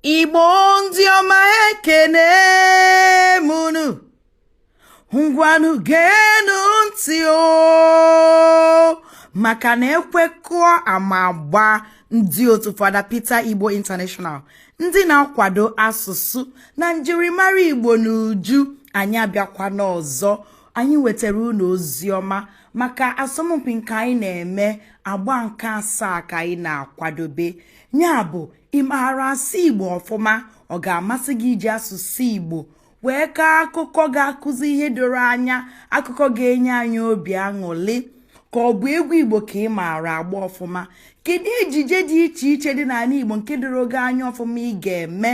igbo ndị ọma ekene m unu ngwanụ geenụ ntị o maka na ekwe kụọ ama agbaa ndị otu fada Peter Igbo International ndị na-akwado asụsụ na njirimara Igbo n'uju anyị abịakwa n'ọzọ anyị wetara unu ozi ọma maka asọmpi nke anyị na-eme agba nke asaa ka anyị na-akwadobe ya bụ ị maara asụ igbo ọfụma ọ ga-amasị gị iji asụsụ igbo wee kaa akụkọ ga-akụzi ihe doro anya akụkọ ga-enye anyị obi aṅụrị ka ọ bụ egwu igbo ka ị maara agba ọfụma kedu ejije dị iche iche dị n'ala igbo nke doro gị anya ọfụma ị ga-eme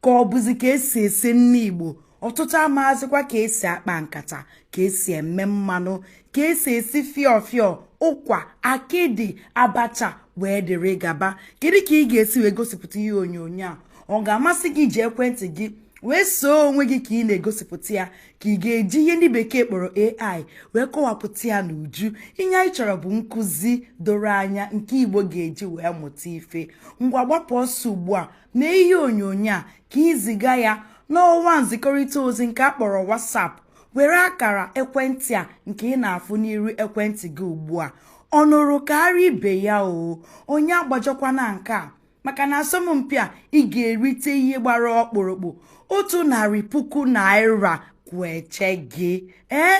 ka ọ bụzi ka esi esi nni igbo ọtụtụ amazịkwa ka esi akpa nkata ka esi eme mmanụ ka esi esi fịọfịọ ụkwa akịdị abacha wee dịrị gaba kedu ka ị ga-esi wee gosipụta ihe onyonyo a ọ ga-amasị gị iji ekwentị gị wee see onwe gị ka ị na-egosipụta ya ka ị ga-eji ihe ndị bekee kpọrọ AI wee kọwapụta ya n'uju ihe anyị chọrọ bụ nkụzi doro anya nke Igbo ga-eji wee mụta ife ngwa gbapụ ọsọ ugbu a mee ihe onyonyo a ka i ziga ya n'ọwa nzikọrịta ozi nke a kpọrọ WhatsApp were akara ekwentị a nke ị na-afụ n'iru ekwentị gị ugbu a ọ nụrụ kaara ibe ya oo onye agbajọkwana nke a maka na asọmpi a ị ga-erite ihe gbara ọkpụrụkpụ otu narị puku naira kweche gị ee